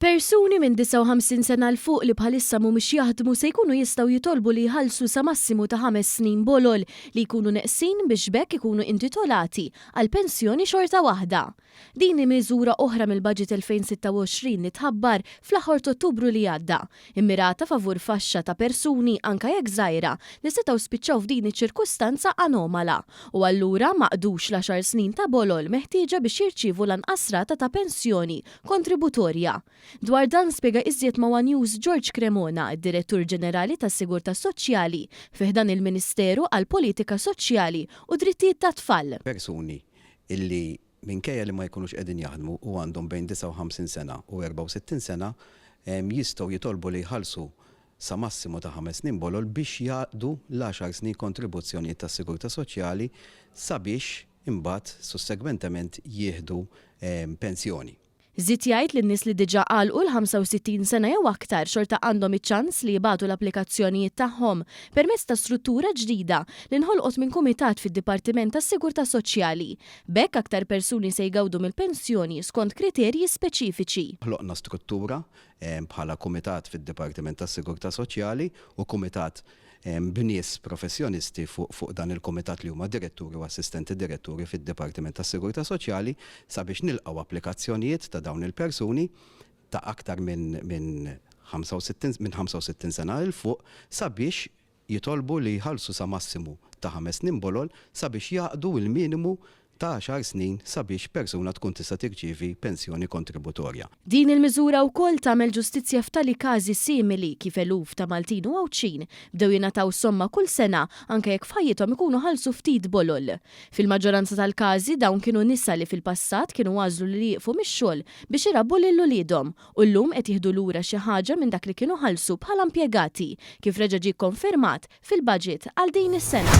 Persuni minn 59 sena 'l fuq li bħalissa mhumiex jaħdmu se jkunu jistgħu jitolbu li jħallsu sa massimu ta' ħames snin bolol li jkunu neqsin biex b'hekk ikunu intitolati għal pensjoni xorta waħda. Din hi miżura oħra mill-Baġit 2026 li tħabbar fl-aħħor t'Ottubru li għadda, immirata favur faxxa ta' persuni, anke jekk żgħira, li setgħu spiċċaw f'din iċ-ċirkustanza anomala u allura ma qdux l-għaxar snin ta' bolol meħtieġa biex jirċievu lanqas rata ta' pensjoni kontributorja. Dwar dan spjega iżjed ma' one News George Cremona, id-Direttur Ġenerali tas-Sigurtà Soċjali fi ħdan il-Ministeru għall-Politika Soċjali u Drittijiet tat-Tfal. Persuni li minkejja li ma jkunux qegħdin jaħdmu u għandhom bejn 59 sena u 64 sena jistgħu jitolbu li jħallsu sa massimu ta' ħames snin bolol biex jaqdu l-għaxar snin kontribuzzjonijiet tas-Sigurtà Soċjali sabiex imbagħad sussegwentement jieħdu pensjoni. Żied jgħid li n-nies li diġà għalqu l-65 sena jew aktar xorta għandhom iċ-ċans li jibagħtu l-applikazzjonijiet tagħhom permezz ta' struttura ġdida li nħolqot minn kumitat fid-Dipartiment tas-Sigurtà Soċjali. B'hekk aktar persuni se jgawdu mill-pensjoni skont kriterji speċifiċi. Ħloqna struttura bħala kumitat fid-Dipartiment tas-Sigurtà Soċjali u kumitat b'nies professjonisti fuq dan il-kumitat li huma diretturi u assistenti diretturi fid-Dipartiment tas-Sigurtà Soċjali sabiex nilqgħu applikazzjonijiet ta' dawn il-persuni ta' aktar minn 65 sena 'l fuq sabiex jitolbu li jħallsu sa massimu ta' ħames snin bolol sabiex jaqdu l-minimu ta' għaxar snin sabiex persuna tkun tista' tirċievi pensjoni kontributorja. Din il-miżura wkoll tagħmel ġustizzja f'tali każi simili, kif eluf ta' Maltin u Għawdxin bdew jingħataw somma kull sena anke jekk f'ħajjithom ikunu ħallsu ftit bolol. Fil-maġġoranza tal-każi dawn kienu nisa li fil-passat kienu għażlu li jieqfu mix-xogħol biex irabbu lil uliedhom u llum qed jieħdu lura xi ħaġa minn dak li kienu ħallsu bħala impjegati, kif reġa' ġie kkonfermat fil-Baġit għal din is-sena.